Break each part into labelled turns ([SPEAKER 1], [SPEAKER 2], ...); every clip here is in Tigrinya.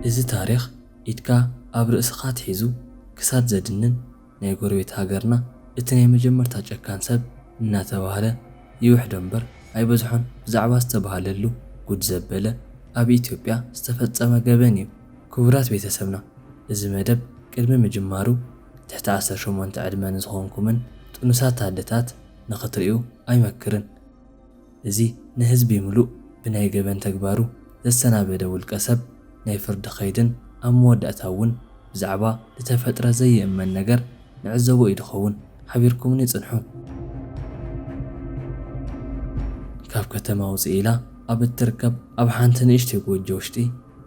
[SPEAKER 1] እዚ ታሪኽ ኢድካ ኣብ ርእስኻ ኣትሒዙ ክሳድ ዘድንን ናይ ጎረቤት ሃገርና እቲ ናይ መጀመርታ ጨካን ሰብ እናተባህለ ይውሕዶ እምበር ኣይበዝሖን ብዛዕባ ዝተባህለሉ ጉድ ዘበለ ኣብ ኢትዮጵያ ዝተፈጸመ ገበን እዩ ክቡራት ቤተሰብና እዚ መደብ ቅድሚ ምጅማሩ ትሕቲ ዓሰርተ ሸሞንተ ዕድመ ንዝኾንኩምን ጥኑሳት ኣደታት ንኽትሪኡ ኣይመክርን እዚ ንህዝቢ ምሉእ ብናይ ገበን ተግባሩ ዘሰናበደ ውልቀ ሰብ ናይ ፍርዲ ከይድን ኣብ መወዳእታ እውን ብዛዕባ ልተፈጥረ ዘይእመን ነገር ንዕዘቦ ኢዩ ድኸውን። ሓቢርኩምኒ ጽንሑ። ካብ ከተማ ውጽእ ኢላ ኣብ እትርከብ ኣብ ሓንቲ ንእሽተይ ጎጆ ውሽጢ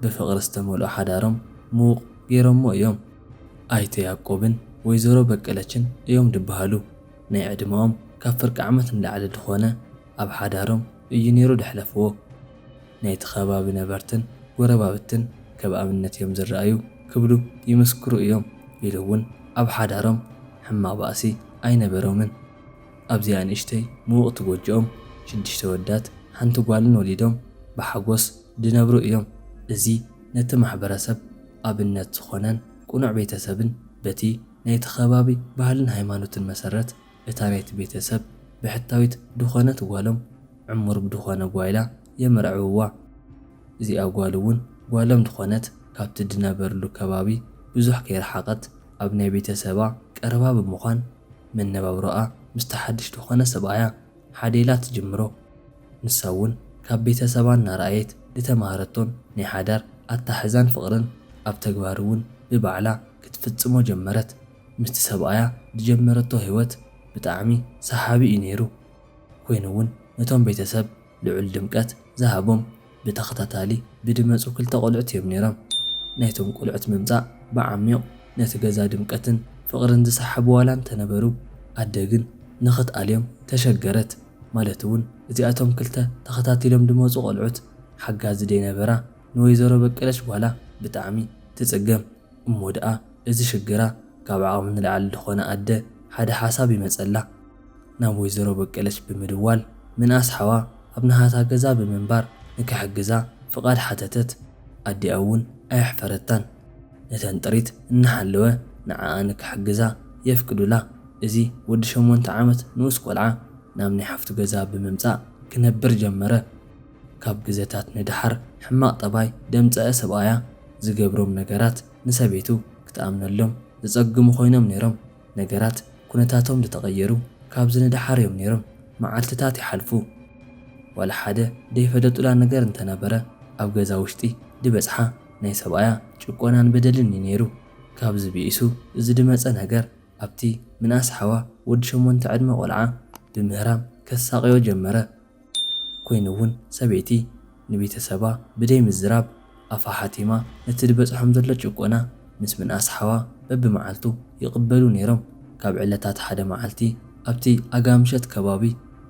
[SPEAKER 1] ብፍቕሪ ዝተመልኦ ሓዳሮም ምዉቕ ገይሮሞ እዮም። ኣይተ ያቆብን ወይዘሮ በቀለችን እዮም ድበሃሉ። ናይ ዕድመኦም ካብ ፍርቂ ዓመት ንላዕሊ ድኾነ ኣብ ሓዳሮም እዩ ነይሩ ደሕለፍዎ። ናይቲ ከባቢ ነበርትን ጎረባብትን ከብ ኣብነት እዮም ዝረኣዩ ክብሉ ይምስክሩ እዮም ኢሉ እውን ኣብ ሓዳሮም ሕማቕ ባእሲ ኣይነበሮምን። ኣብዚኣ ንእሽተይ ምውቕቲ ጎጆኦም ሽድሽተ ወዳት ሓንቲ ጓልን ወሊዶም ብሓጎስ ድነብሩ እዮም። እዚ ነቲ ማሕበረሰብ ኣብነት ዝኾነን ቅኑዕ ቤተሰብን በቲ። ናይቲ ከባቢ ባህልን ሃይማኖትን መሰረት እታ ናይቲ ቤተሰብ ብሕታዊት ድኾነት ጓሎም ዕሙር ብድኾነ ጓይላ የመርዕውዋ። እዚኣ ጓል እውን ጓሎም ድኾነት ካብቲ ድነበርሉ ከባቢ ብዙሕ ከይረሓቐት ኣብ ናይ ቤተሰባ ቀረባ ብምዃን መነባብሮኣ ምስቲ ሓድሽ ድኾነ ሰብኣያ ሓዴላ ትጅምሮ። ንሳ እውን ካብ ቤተሰባ እናረኣየት ዝተማህረቶን ናይ ሓዳር ኣተሓሕዛን ፍቕርን ኣብ ተግባር እውን ብባዕላ ክትፍፅሞ ጀመረት። ምስቲ ሰብኣያ ዝጀመረቶ ህይወት ብጣዕሚ ሰሓቢ እዩ ነይሩ። ኮይኑ እውን ነቶም ቤተሰብ ልዑል ድምቀት ዝሃቦም፣ ብተኸታታሊ ብድመጹ ክልተ ቆልዑት እዮም ነይሮም። ናይቶም ቆልዑት ምምጻእ ብዓሚዩቕ ነቲ ገዛ ድምቀትን ፍቕርን ዝሰሓቡ ዋላ እንተነበሩ፣ ኣደ ግን ንኽትኣልዮም ተሸገረት። ማለት እውን እዚኣቶም ክልተ ተኸታቲሎም ድመጹ ቆልዑት ሓጋዚ ደይነበራ ንወይዘሮ በቀለች ጓላ ብጣዕሚ ትጽገም። እሞ ደኣ እዚ ሽግራ ካብ ዓቕሚ ንላዕሊ ድኾነ ኣደ ሓደ ሓሳብ ይመጸላ። ናብ ወይዘሮ በቀለች ብምድዋል ምንኣስ ሓዋ ኣብ ናሃታ ገዛ ብምንባር ንክሕግዛ ፍቓድ ሓተተት። ኣዲኣ እውን ኣየሕፈረታን። ነተን ጥሪት እናሓለወ ንዓኣ ንክሕግዛ የፍቅዱላ። እዚ ወዲ ሸሞንተ ዓመት ንኡስ ቆልዓ ናብ ናይ ሓፍቱ ገዛ ብምምጻእ ክነብር ጀመረ። ካብ ግዘታት ንደሓር ሕማቕ ጠባይ ደምጸዐ ሰብኣያ ዝገብሮም ነገራት ንሰበይቱ ክትኣምነሎም ዘጸግሙ ኮይኖም ነይሮም። ነገራት ኩነታቶም ድተቐየሩ ካብዚ ንደሓር እዮም ነይሮም። መዓልትታት ይሓልፉ። ዋላ ሓደ ደይፈለጡላ ነገር እንተነበረ ኣብ ገዛ ውሽጢ ድበጽሓ ናይ ሰብኣያ ጭቆናን በደልን እዩ ነይሩ። ካብዚ ብኢሱ እዚ ድመጸ ነገር ኣብቲ ምንኣስ ሓዋ ወዲ ሸሞንተ ዕድመ ቆልዓ ብምህራም ከሳቕዮ ጀመረ። ኮይኑ እውን ሰበይቲ ንቤተሰባ ብደይ ምዝራብ ኣፋ ሓቲማ ነቲ ድበፅሖም ዘሎ ጭቆና ምስ ምንኣስ ሓዋ በቢመዓልቱ ይቕበሉ ነይሮም ካብ ዕለታት ሓደ መዓልቲ ኣብቲ ኣጋምሸት ከባቢ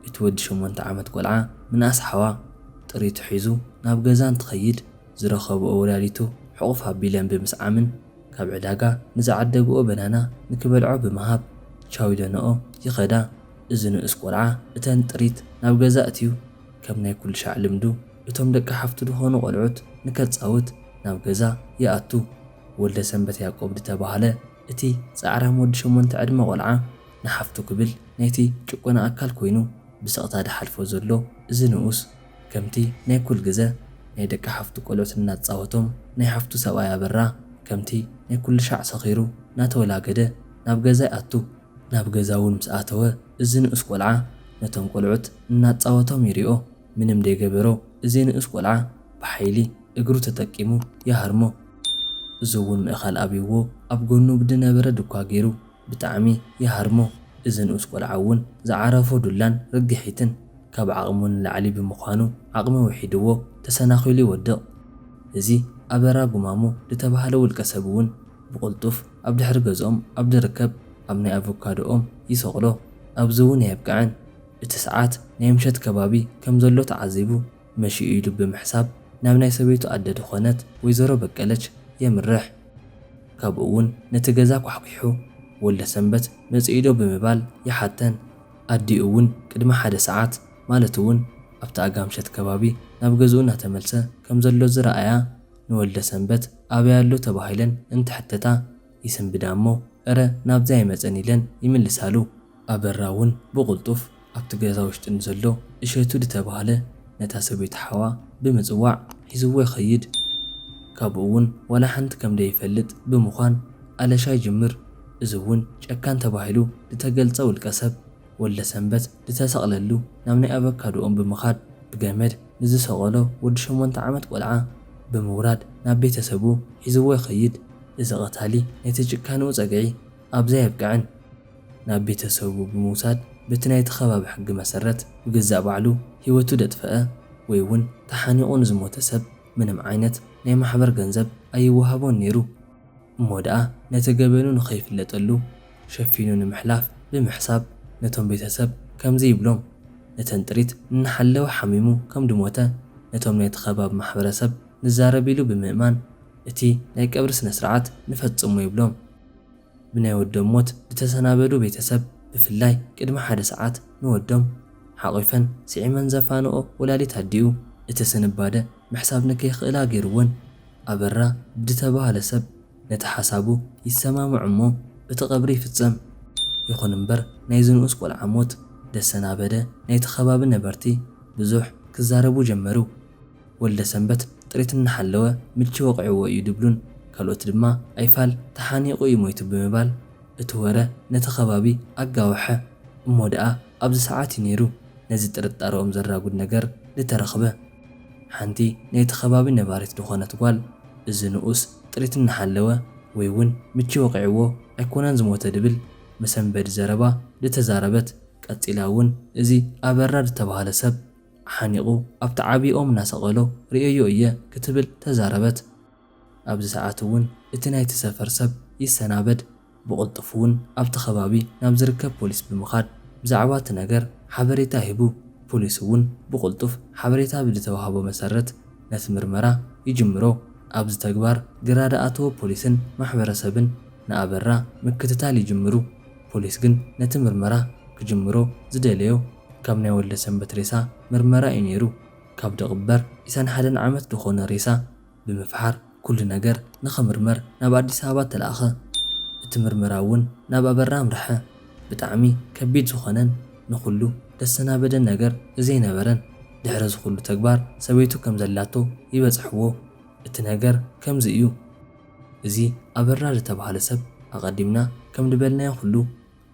[SPEAKER 1] እቲ ወዲ ሸሞንተ ዓመት ቆልዓ ምንኣስ ሓዋ ጥሪቱ ሒዙ ናብ ገዛ እንትኸይድ ዝረኸብኦ ወላዲቱ ሕቑፍ ኣቢለን ብምስዓምን ካብ ዕዳጋ ንዝዓደግኦ በናና ንክበልዖ ብምሃብ ቻው ኢለንኦ ይኸዳ። እዚ ንኡስ ቆልዓ እተን ጥሪት ናብ ገዛ ኣእትዩ ከም ናይ ኩልሻዕ ልምዱ እቶም ደቂ ሓፍቱ ድኾኑ ቆልዑት ንከጻውት ናብ ገዛ ይኣቱ። ወልደሰንበት ያቆብ ድተባህለ እቲ ጻዕራም ወዲ ሸሞንተ ዕድመ ቆልዓ ንሓፍቱ ክብል ናይቲ ጭቆና ኣካል ኮይኑ ብስቕታ ድሓልፎ ዘሎ እዚ ንኡስ ከምቲ ናይ ኩል ግዘ ናይ ደቂ ሓፍቱ ቆልዑት እናጻወቶም ናይ ሓፍቱ ሰብኣይ ኣበራ ከምቲ ናይ ኩልሻዕ ሰኺሩ ናተወላገደ ናብ ገዛ ይኣቱ። ናብ ገዛ እውን ምስ ኣተወ እዚ ንኡስ ቆልዓ ነቶም ቆልዑት እናጻወቶም ይሪኦ ምንም ደይገበሮ እዚ ንኡስ ቆልዓ ብሓይሊ እግሩ ተጠቂሙ ይሃርሞ እዚ እውን ምእኻል ኣብይዎ ኣብ ጎኑ ብድነበረ ድኳ ገይሩ ብጣዕሚ ይሃርሞ እዚ ንኡስ ቆልዓ እውን ዝዓረፎ ዱላን ርግሒትን ካብ ዓቕሙ ንላዕሊ ብምዃኑ ዓቕሚ ውሒድዎ ተሰናኺሉ ይወድቕ እዚ ኣበራ ጉማሞ ድተባሃለ ውልቀሰብ እውን ብቕልጡፍ ኣብ ድሕሪ ገዝኦም ኣብ ዝርከብ ኣብ ናይ ኣቮካዶ ኦም ይሰቕሎ። ኣብዚ እውን ኣየብቅዐን፣ እቲ ሰዓት ናይ ምሸት ከባቢ ከም ዘሎ ተዓዚቡ መሽዩ ኢሉ ብምሕሳብ ናብ ናይ ሰበይቱ ኣደ ድኾነት ወይዘሮ በቀለች የምርሕ። ካብኡ እውን ነቲ ገዛ ኳሕኲሑ ወልደሰንበት መፂኡዶ ብምባል ይሓተን። ኣዲኡ እውን ቅድሚ ሓደ ሰዓት ማለት እውን ኣብቲ ኣጋምሸት ከባቢ ናብ ገዝኡ እናተመልሰ ከም ዘሎ ዝረኣያ ንወልደሰንበት ኣበይ ኣሎ ተባሂለን እንትሕተታ ይስንብዳ'ሞ እረ ናብዚ ኣይመጸን ኢለን ይምልሳሉ። ኣበራ'ውን ብቕልጡፍ ኣብቲ ገዛ ውሽጢ ንዘሎ እሸቱ ድተባህለ ነታ ሰበይቲ ሓዋ ብምጽዋዕ ሒዝዎ ይኸይድ። ካብኡ'ውን ዋላ ሓንቲ ከም ደይፈልጥ ብምዃን ኣለሻ ይጅምር። እዚ'ውን ጨካን ተባሂሉ ድተገልጸ ውልቀሰብ ወልደሰንበት ድተሰቕለሉ ናብ ናይ ኣቨካዶኦም ብምኻድ ብገመድ ንዝሰቀሎ ወዲ ሸሞንተ ዓመት ቆልዓ ብምውራድ ናብ ቤተሰቡ ሒዝዎ ይኸይድ። እዚ ቀታሊ ናይቲ ጭካንኡ ጸግዒ ኣብዚ ኣየብቅዕን። ናብ ቤተሰቡ ብምውሳድ በቲ ናይቲ ከባቢ ሕጊ መሰረት ብገዛእ ባዕሉ ህይወቱ ደጥፈኣ ወይ'ውን ተሓኒቑ ንዝሞተ ሰብ ምንም ዓይነት ናይ ማሕበር ገንዘብ ኣይወሃቦን ነይሩ። እሞ ደኣ ነቲ ገበኑ ንኸይፍለጠሉ ሸፊኑ ንምሕላፍ ብምሕሳብ ነቶም ቤተሰብ ከምዚ ይብሎም፣ ነተን ጥሪት እናሓለወ ሓሚሙ ከም ድሞተ ነቶም ናይቲ ከባቢ ማሕበረሰብ ንዛረብ ኢሉ ብምእማን እቲ ናይ ቀብሪ ስነስርዓት ንፈጽሞ ይብሎም። ብናይ ወዶም ሞት ድተሰናበዱ ቤተሰብ ብፍላይ ቅድሚ ሓደ ሰዓት ንወዶም ሓቚፈን ስዒመን ዘፋንኦ ወላዲት ኣዲኡ እቲ ስንባደ ምሕሳብ ንከይክእላ ገይሩወን። ኣበራ ድተባህለ ሰብ ነቲ ሓሳቡ ይሰማምዕ እሞ እቲ ቀብሪ ይፍጸም። ይኹን እምበር ናይዚ ንኡስ ቆልዓ ሞት ደሰናበደ ናይቲ ከባቢ ነበርቲ ብዙሕ ክዛረቡ ጀመሩ። ወልደሰንበት ጥሪት እናሓለወ ምቺ ወቒዕዎ እዩ ድብሉን ካልኦት ድማ ኣይፋል ተሓኒቑ እዩ ሞይቱ ብምባል እቲ ወረ ነቲ ከባቢ ኣጋወሐ። እሞ ደኣ ኣብዚ ሰዓት እዩ ነይሩ ነዚ ጥርጣረኦም ዘራጉድ ነገር ድተረኽበ። ሓንቲ ናይቲ ከባቢ ነባሪት ድኾነት ጓል፣ እዚ ንኡስ ጥሪት እናሓለወ ወይ እውን ምቺ ወቒዕዎ ኣይኮነን ዝሞተ ድብል መሰንበዲ ዘረባ ድተዛረበት፣ ቀጺላ እውን እዚ ኣበራ ድተባህለ ሰብ ሓኒቑ ኣብቲ ዓብዪ ኦም እናሰቐሎ ርእየዮ እየ ክትብል ተዛረበት። ኣብዚ ሰዓት'ውን እቲ ናይቲ ሰፈር ሰብ ይሰናበድ ብቕልጡፍ'ውን ኣብቲ ከባቢ ናብ ዝርከብ ፖሊስ ብምኻድ ብዛዕባ'ቲ ነገር ሓበሬታ ሂቡ ፖሊስ'ውን ብቕልጡፍ ሓበሬታ ብዝተዋህቦ መሰረት ነቲ ምርመራ ይጅምሮ ኣብዚ ተግባር ግራ ድኣተወ ፖሊስን ማሕበረሰብን ንኣበራ ምክትታል ይጅምሩ ፖሊስ ግን ነቲ ምርመራ ክጅምሮ ዝደለዮ ካብ ናይ ወልደሰንበት ሬሳ ምርመራ እዩ ነይሩ ካብ ድቕበር ዒሳን ሓደን ዓመት ድኾኖ ሬሳ ብምፍሓር ኩሉ ነገር ንኽምርመር ናብ ኣዲስ ኣበባ ተላእኸ። እቲ ምርመራ እውን ናብ ኣበራ ኣምርሐ። ብጣዕሚ ከቢድ ዝኾነን ንኹሉ ደሰናበደን ነገር እዘይነበረን ድሕሪ እዚ ኩሉ ተግባር ሰበይቱ ከምዘላቶ ይበፀሕዎ። እቲ ነገር ከምዚ እዩ። እዚ ኣበራ ልተብሃለ ሰብ ኣቐዲምና ከምልበልናዮ ኩሉ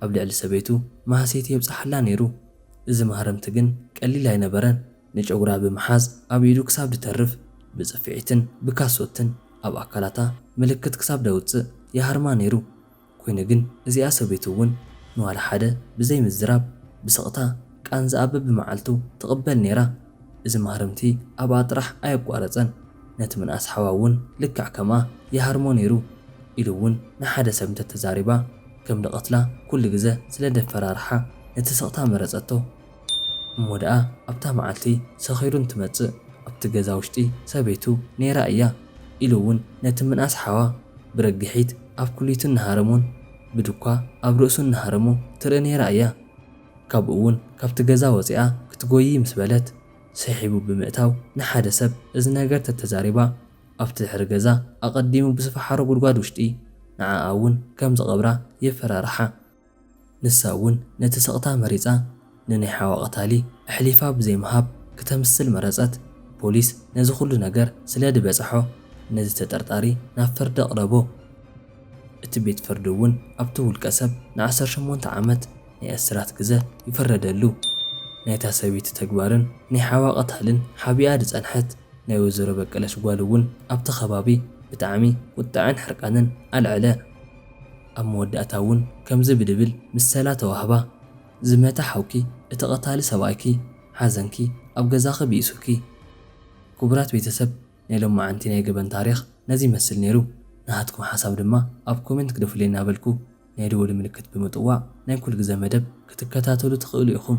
[SPEAKER 1] ኣብ ልዕሊ ሰበይቱ ማህሰይቲ የብፀሓላ ነይሩ። እዚ ማህረምቲ ግን ቀሊል ኣይነበረን። ንጨጉራ ብምሓዝ ኣብ ኢዱ ክሳብ ድተርፍ ብጽፍዒትን ብካሶትን ኣብ ኣካላታ ምልክት ክሳብ ደውጽእ ይሃርማ ነይሩ። ኩይኑ ግን እዚኣ ሰበይቱ እውን ንዋላ ሓደ ብዘይ ምዝራብ ብስቕታ ቃንዛኣ በብመዓልቱ ትቕበል ነይራ። እዚ ማህረምቲ ኣብኣ ጥራሕ ኣየቋረጸን ነቲ ምንኣስ ሓዋ እውን ልክዕ ከምኣ ይሃርሞ ነይሩ ኢሉ እውን ንሓደ ሰብ እንተተዛሪባ ከም ድቐትላ ኩሉ ግዘ ስለ ደፈራርሓ ነቲ ስቕታ መረጸቶ። እሞ ደኣ ኣብታ መዓልቲ ሰኺሩ እንትመጽእ ኣብቲ ገዛ ውሽጢ ሰበይቱ ነይራ እያ ኢሉ እውን ነቲ ምንኣስ ሓዋ ብረግሒት ኣብ ኩሊቱ እናሃረሞን ብዱኳ ኣብ ርእሱ እናሃረሞ ትርኢ ነይራ እያ። ካብኡ እውን ካብቲ ገዛ ወጺኣ ክትጎይይ ምስ በለት ስሒቡ ብምእታው ንሓደ ሰብ እዚ ነገር ተተዛሪባ ኣብቲ ድሕሪ ገዛ ኣቐዲሙ ብዝፈሓሮ ጉድጓድ ውሽጢ ንዓኣ እውን ከም ዝቐብራ የፈራርሓ። ንሳ እውን ነቲ ስቕታ መሪጻ ንናይ ሓዋ ቀታሊ ኣሕሊፋ ብዘይ ምሃብ ክተምስል መረጸት። ፖሊስ ነዚ ኩሉ ነገር ስለ ድበጸሖ ነዚ ተጠርጣሪ ናብ ፍርዲ ኣቕረቦ። እቲ ቤት ፍርዲ እውን ኣብቲ ውልቀ ሰብ ንዓሰርተ ሸሞንተ ዓመት ናይ እስራት ግዘ ይፈረደሉ። ናይታ ሰበይቲ ተግባርን ናይ ሓዋ ቀታልን ሓቢኣ ድጸንሐት ናይ ወይዘሮ በቀለች ጓል እውን ኣብቲ ከባቢ ብጣዕሚ ቁጠዐን ሕርቃንን ኣልዐለ። ኣብ መወዳእታ እውን ከምዚ ብድብል ምሰላ ተዋህባ፣ ዝመተ ሓውኪ፣ እቲ ቐታሊ ሰብኣይኪ፣ ሓዘንኪ ኣብ ገዛኺ ብኢሱኪ። ክቡራት ቤተሰብ ናይ ሎማዓንቲ ናይ ገበን ታሪኽ ነዚ ይመስል ነይሩ። ናሃትኩም ሓሳብ ድማ ኣብ ኮሜንት ግደፉለይ እናበልኩ ናይ ደወል ምልክት ብምጥዋቕ ናይ ኩልግዘ መደብ ክትከታተሉ ትኽእሉ ኢኹም።